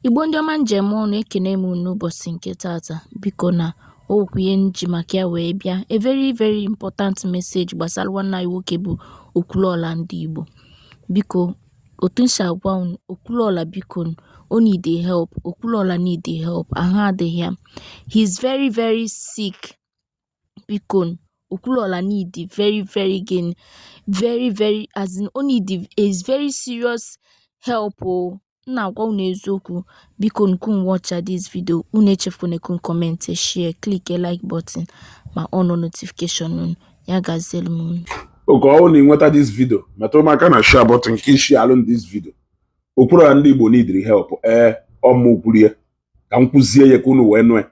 Igbo ndị ọma nji eme ọnụ ekene m unu n'ụbọchị nke taata biko na okwu ihe nji maka ya wee bịa a very very important message gbasara nwanne anyị nwoke bụ Okwuluọla ndị Igbo biko otu m si agwa unu Okwuluọla biko o need help Okwuluọla need help ahụ adịghị ya he is very very sick bikonu Okwuluọla need very very gịnị very very as in o need is very serious help oo m na-agwa unu eziokwu bikonu ka unu watcha this video unu echefukwana ka unu comment share click like button ma on notification unu ya gazielu m unu oge ọwụna i nweta this video metụrụ m aka na share button ka ị share alụ this video Okwuluọla ndị Igbo need help ee ọ mụ kwuru ya ka m kwuzie ya ka unu wee nụ ya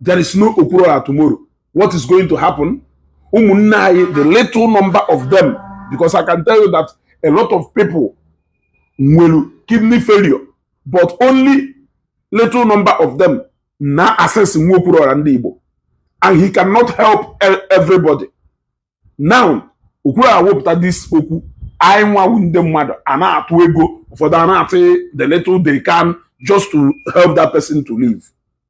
there is no Okwuluora tomorrow what is going to happen ụmụnne anyị the little number of them because I can tell you that a lot of people nwere kidney failure but only little number of them na-access nwu Okwuluora ndị Igbo and he cannot help e-, everybody now Okwuluora wepụta this okwu anyị nwa wụ ndị mmadụ a na-atụ ego ụfọdụ a na-atụ the little they can just to help that person to live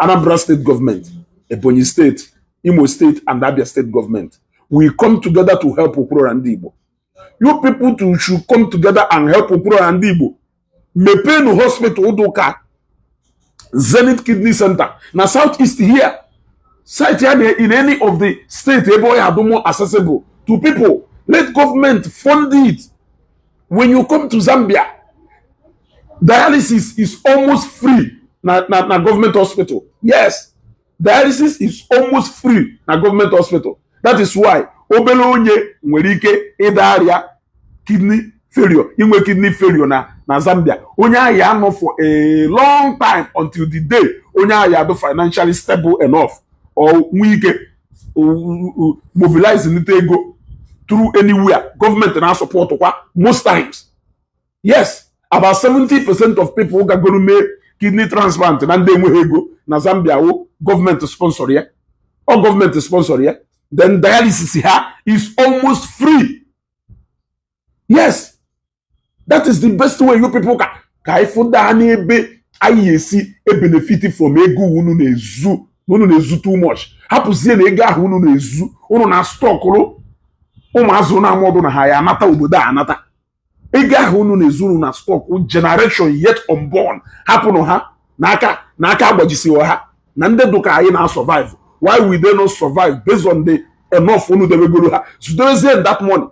Anambra State Government, Ebonyi State, Imo State, and Abia State Government. We come together to help Okporo and Igbo. You people too should come together and help Okporo and Igbo. Mepenu Hospital Udoka, Zenith Kidney Center, na Southeast here. Site here in any of the state, Ebo Yadumo accessible to people. Let government fund it. when you come to Zambia dialysis is almost free na na na government hospital yes dialysis is almost free na government hospital that is why obele onye nwere ike ịda ọrịa kidney failure inwe kidney failure na na Zambia onye ahụ ya-anọ for a long time until the day onye ahụ ya-adụ financially stable enough or nwee ike mobilize nite ego through anywhere government na-asupport kwa most times yes about 70 percent of people gagoro mee kidney transplant na ndị enweghị ego na Zambia wụ government sponsor ya ọ government sponsor ya then dialysis ha is almost free yes that is the best way you people can ka anyị fụ ndị ha n'ebe anyị ya-esi ebenefit from ego unu na-ezu na unu na-ezu too much hapụzie na ego ahụ unu na-ezu unu na stockụrụ ụmụazụ na amaọdụ na ha ya-anata obodo a anata ego ahụ unu na-ezu unu na stock generation yet unborn hapụnụ ha na aka agbajisighị ha na ndị dụka anyị na-asurvive why will they not survive based on the enough unu debegoro ha zudowezie that money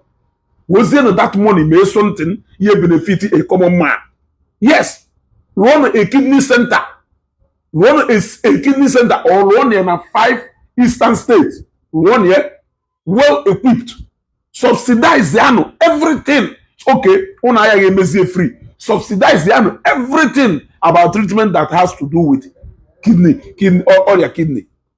wezienụ that money mee something ihe benefit a common man yes run a kidney center run a, a kidney center or run ya na five eastern states run ya well equipped subsidize yanụ everything okay ụnụ agaghị emezie free subsidize yanụ everything about treatment that has to do with kidney kidney ọrịa kidney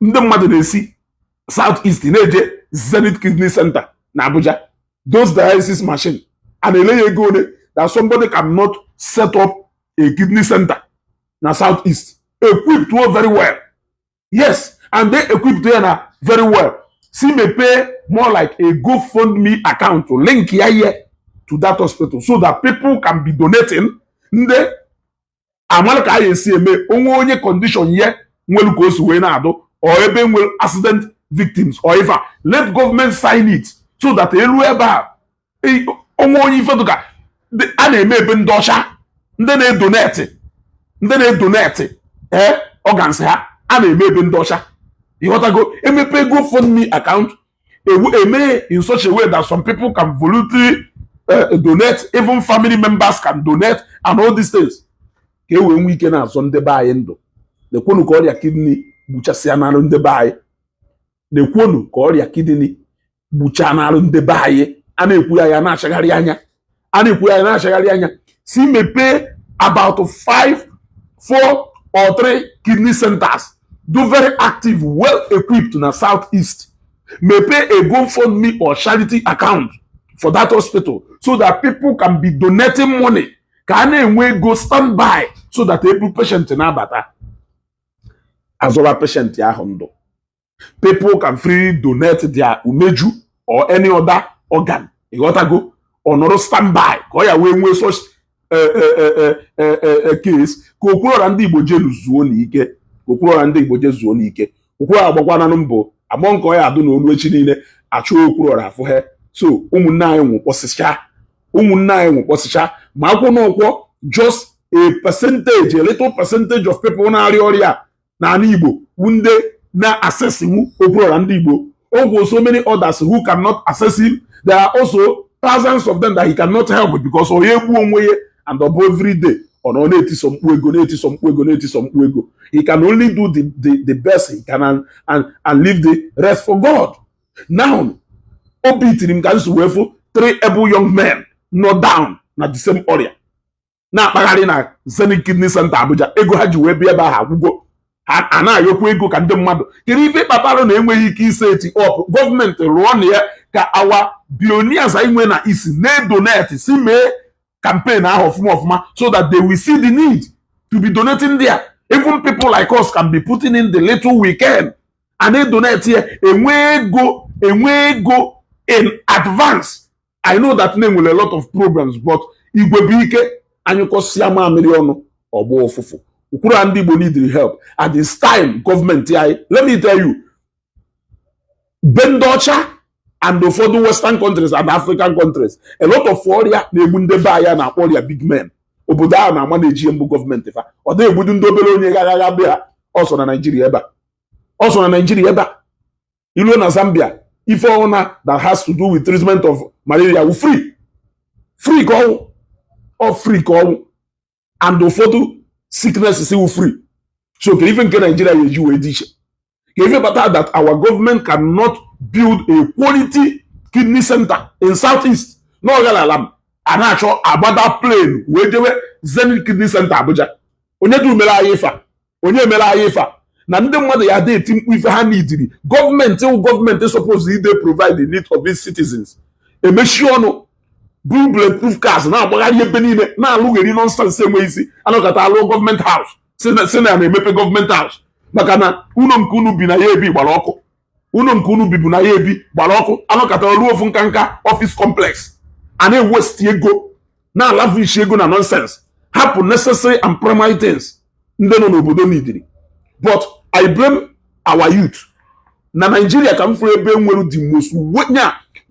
ndị mmadụ na-esi south east na-eje zenith kidney center na abuja those dialysis machine a na-ele ya ego ole that somebody cannot set up a kidney center na south east equipped well very well yes and they equipped ya na very well si mepee more like a gofundme account to link ya here to that hospital so that people can be donating ndị a malụ ka a ya-esi eme o nwee onye condition ya nwere ka o si wee na-adụ or ebe nwere accident victims or ife let government sign it so that elu ebe a o nwee onye ife dụka a na-eme ebe ndị ọcha ndị na-edonate ndị na-edonate ee eh, organs ha a na-eme ebe ndị ọcha ị ghọtago e mepe GoFundMe account e mee in such a way that some people can voluntarily uh, donate, even family members can donate, and all these things. ka e wee nwee ike na-azọ ndị be anyị ndụ nekwonụ ka ọrịa kidney gbuchasịa n'arụ ndị be anyị nekwonụ ka ọrịa kidney gbuchaa n'arụ ndị be anyị a na-ekwu ya ya na-achagharị anya a na-ekwu ya na-achagharị anya si mepee about five four or three kidney centers dụ very active well equipped na south east mepee a gofundme or charity account for that hospital so that people can be donating money ka a na-enwe ego stand by so that e bu patient na-abata a zọba patient ahụ ndụ people can freely donate their umeju or any other organ ịghọtago ọ nọrọ standby ka ọ ya wee nwee such eh, eh, eh, case ka okwuruọra ndị igbo jelu zuonụ ike ka okwuruọra ndị igbo je zuonụ ike okwuruọra agbakwananụ mbọ agbọ nke ọ ya adụ na o lu echi niile a chọọ okwuruọra afụ ha so ụmụnne anyị nwụkpọsịcha ụmụnne anyị nwụkpọsịcha ma akwụ na ụkwọ just a percentage a little percentage of people na-arịa ọrịa n'ala Igbo bụ ndị na-accessiwu okwuruọra ndị Igbo ọ gwụ so many others who cannot access him there are also thousands of them that he cannot help because ọ ya-egbu onwe ya and ọ bụ every day ọ nọ na-etiso mkpu ego na-etiso mkpu ego na-etiso mkpu ego he can only do the, the, the best he can and, and, and leave the rest for God now obi tiri m ka m su wee fụ three able young men nọ down na the same ọrịa na-akpagharị na Zenith Kidney Center Abuja ego ha ji wee bịa ebe ahụ agwụgo a na-ayọkwa ego ka ndị mmadụ kedu ife kpatara na enweghị ike ịsetị up gọọmenti rụọnụ ya ka our billionaires anyị nwee na isi na-edonate si mee campaign ahụ ọfụma ọfụma so that they will see the need to be donating there even people like us can be putting in the little we can a na-edonate ya enwe ego enwe ego in advance I know that na e nwere a lot of problems but igwe bụ ike a nyụkọsịa mamịrị ọnụ ọ gbọọ ụfụfụ okwuruọra ndị Igbo need help at this time gọọmenti anyị let me tell you be ndị ọcha and ụfọdụ western countries and african countries a lot of ọrịa na-egbu ndị be anyị na-akpọ ọrịa big men obodo ahụ na-ama na-eji mbụ gọọmenti fa ọ dịghị egbudu ndị obere onye ghaghagha be ha ọ sọ na naijiria ebe a ọ sọ na naijiria ebe a i luo na zambia ife ọ wụna that has to do with treatment of malaria wụ free free ka ọ wụ ọ free ka ọ wụ and ụfọdụ sicknesses wụ free so kee ife nke naijiria ya eji wee dị iche kee ife kpata that our government cannot build a quality kidney center in south east na ọgara ala m a na-achọ agbada plane wee jewe zenith kidney center abuja onye du mere anyị ife a onye mere anyị ife a na ndị mmadụ ya dị eti mkpu ife ha needịrị gọọmenti wụ gọọmenti suppose ide provide the need of its citizens emechi ọnụ bulletproof cars na-agbagharị ebe niile na-alụgheri nonsense enweghị isi anọkata alụọ gọọmenti house sị na a na-emepe gọọmenti house maka na ụlọ nke unu bi na ya ebi gbara ọkụ ụlọ nke unu bibu na ya ebi gbara ọkụ anọkata arụọ ofu nkanka office complex a na-ewesti ego na-alavishi ego na nonsense hapụ necessary and primary things ndị nọ n'obodo needịrị but I blame our youth na Nigeria ka m fụrụ ebe e nwere the most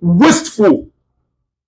wasteful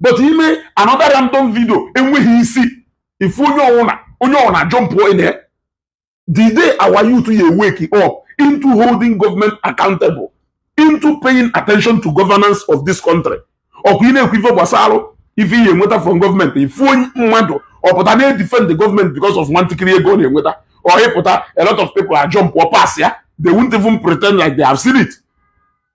but i mee another random video enweghị isi ị fụ onye ọwụna onye ọwụna jump in ya the day our youth ya wake up into holding government accountable into paying attention to governance of this country ọkwa ị na-ekwu ife gbasara ife ihe enweta from gọọmenti ị fụ mmadụ ọ pụta na-edefend gọọmenti because of nwantakịrị ego ọ na-enweta ọ pụta a lot of people ajumpụọ pass ya they won't even pretend like they have seen it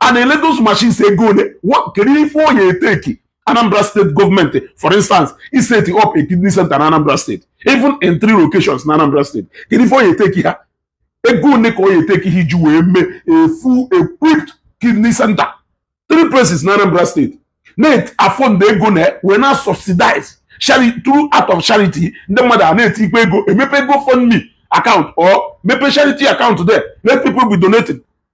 a na-ele those machines ego ole kedu ife ọ ya eteki Anambra State gọọmenti for instance iseti up a kidney center na Anambra State even in three locations na Anambra State kedu ife ọ ya eteki ha ego ole ka ọ ya eteki ha iji wee mee a full equipped kidney center three places na Anambra State na-afọ ndị ego na wee na subsidize through out of charity ndị mmadụ a na-etinye ego e mepe GoFundMe account or mepe charity account there let people be donating